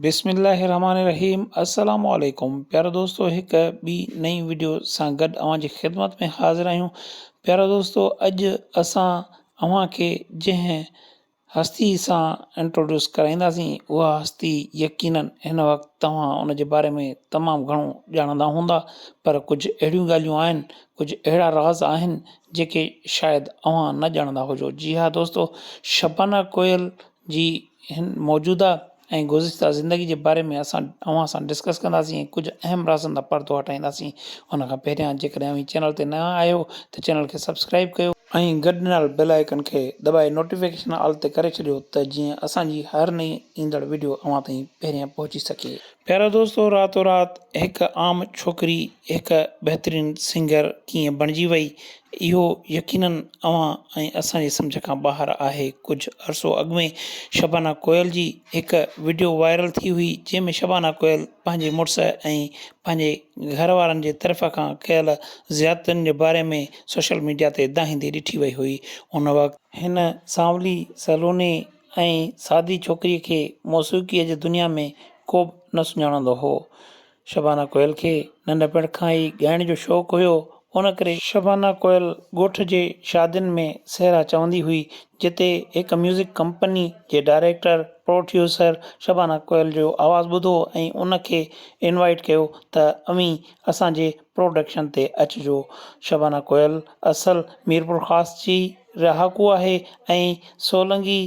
بسم الله الرحمٰن الرحيم السلام عليڪم پيارا دوستو هڪ ٻي نئين وڊيو سان گڏ اوهان جي خدمت ۾ حاضر آهيون پيارا دوستو اڄ اسان اوهان کي جنهن هستي سان انٽروڊيوس ڪرائينداسين اها هستي يقينا هن وقت توهان ان جي باري ۾ تمام گهڻو ڄاڻندا هوندا پر ڪجهه اهڙيون ڳالهيون آهن ڪجهه اهڙا راز آهن جيڪي شايد اوهان نه ڄاڻندا هجو جي ها دوستو شبانه ڪوئل جي هن موجوده ۽ گذشته زندگي جي باري ۾ اسان اوهان سان ڊسڪس ڪنداسين ۽ ڪجهه اهم رازن تان پردو هٽائينداسين ان کان پهريان جيڪڏهن اوهين چينل تي نيا آهيو ته چينل کي سبسڪرائيب ڪيو ۽ گڏ ڏنل بيل آئيڪن کي دٻائي نوٽيفڪيشن آل تي ڪري ڇڏيو ته جيئن اسان جي هر نئين ايندڙ وڊيو اوهان تائين پهريان پهچي سگهي. پيارا دوستو راتو رات هڪ عام ڇوڪري هڪ بهترين سنگر ڪيئن بڻجي وئي اهو يقينن اوهان ۽ اسان جي سمجهه کان ٻاهر آهي. ڪجهه عرصو اڳ ۾ شبانه ڪوئل جي هڪ وڊيو وائرل ٿي هئي جنهن ۾ شبانه ڪوئل پنهنجي مڙس ۽ پنهنجي گهر وارن جي طرف کان ڪيل زيادتين جي باري ۾ سوشل ميڊيا تي دانهيندي ڏٺي وئي هئي ان وقت هن سانولي سلوني ۽ سادي ڇوڪري کي موسيقي جي دنيا ۾ ڪوبه نه سڃاڻندو هو. شبانه ڪوئل کي ننڍپڻ کان ئي ڳائڻ جو شوق هيو، ان ڪري شبانه ڪوئل ڳوٺ جي شادين ۾ سهرا چوندي هئي، جتي هڪ ميوزڪ ڪمپني جي ڊائريڪٽر پروڊيوسر شبانه ڪوئل جو آواز ٻڌو ۽ ان کي انوائيٽ ڪيو ته اوهين اسان جي پروڊڪشن تي اچجو. شبانه ڪوئل اصل ميرپورخاص جي رهاڪو آهي ۽ سولنگي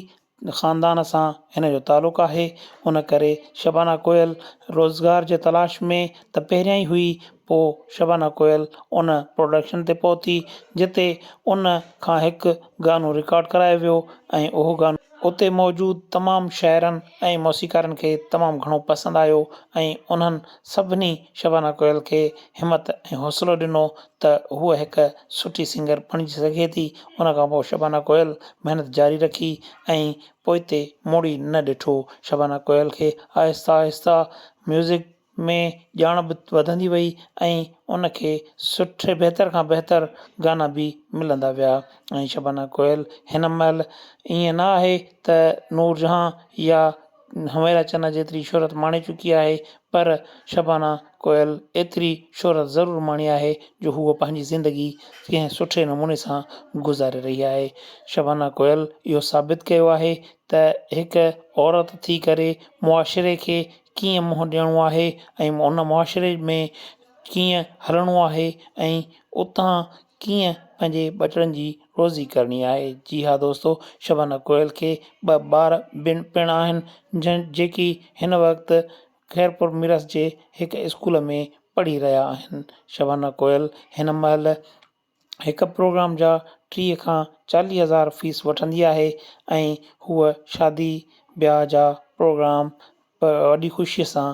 خاندان سان هن جو تعلق آهي ان ڪري شبانه ڪوئل روزگار جي تلاش ۾ ته پهريان ئي هئي پوء شبانه ڪوئل ان پروڊڪشن تي پهتي جتي ان کان هڪ گانو رڪارڊ ڪرايو ويو ۽ اهو گانو اتي موجود تمام شاعرن ۽ موسيقارن کي تمام گهڻو پسند آيو ۽ انهن سڀني شبانه ڪوئل کي همت ۽ حوصلو ڏنو ته هوء هڪ سٺي سنگر بڻجي سگهي ٿي ان کان پوء شبانه ڪوئل محنت جاري رکي ۽ پوئتي موڙي نه ڏٺو شبانه ڪوئل کي آهسته آهسته ميوزڪ ۾ ڄاڻ به وڌندي وئي ۽ ان کي سٺي بهتر کان بهتر گانا به ملندا ويا ۽ شبانه ڪوئل هن مهل ائين نه آهي ته نور جهان يا حميرا چنا جيتري شهرت ماڻي چڪي آهي پر شبانا ڪوئل ايتري شهرت ضرور ماڻي آهي جو هوء پنهنجي زندگي ڪنهن سٺي نموني سان گذاري رهي آهي شبانا ڪوئل اهو ثابت ڪيو آهي ته هڪ عورت ٿي ڪري معاشري کي ڪيئن منهن ڏيڻو آهي ۽ ان معاشري ۾ ڪيئن هلڻو آهي ۽ اتان ڪيئن پنهنجي ٻچڙن جي روزي ڪرڻي آهي جي ها دوستو شبانه گوئل کي ٻه ٻار بن پڻ آهن جن جيڪي هن وقت خيرپور ميرس جي هڪ اسڪول ۾ پڙهي رهيا آهن شبانه گوئل هن مهل هڪ پروگرام جا ٽيهه کان چاليهه هزار فيس وٺندي آهي ۽ هوء شادي بياهه جا پروگرام وڏي خوشيء سان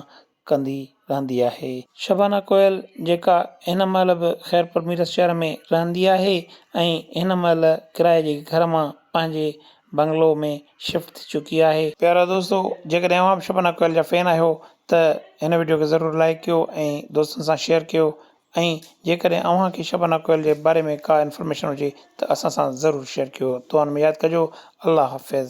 ڪندي رهندي آهي. شبانه ڪوئل جيڪا هن مهل به خيرپور ميرس شهر ۾ رهندي آهي ۽ هن مهل ڪرايي جي گهر مان پنهنجي بنگلو ۾ شفٽ ٿي چڪي آهي. پيارا دوستو جيڪڏهن اوهان به شبانه ڪوئل جا فين آهيو ته هن وڊيو کي ضرور لائيڪ ڪيو ۽ دوستن سان شيئر ڪيو ۽ جيڪڏهن اوهان کي شبانه ڪوئل جي باري ۾ ڪا انفارميشن هجي ته اسان سان ضرور شيئر ڪيو دعائن ۾ ياد ڪجو الله حافظ.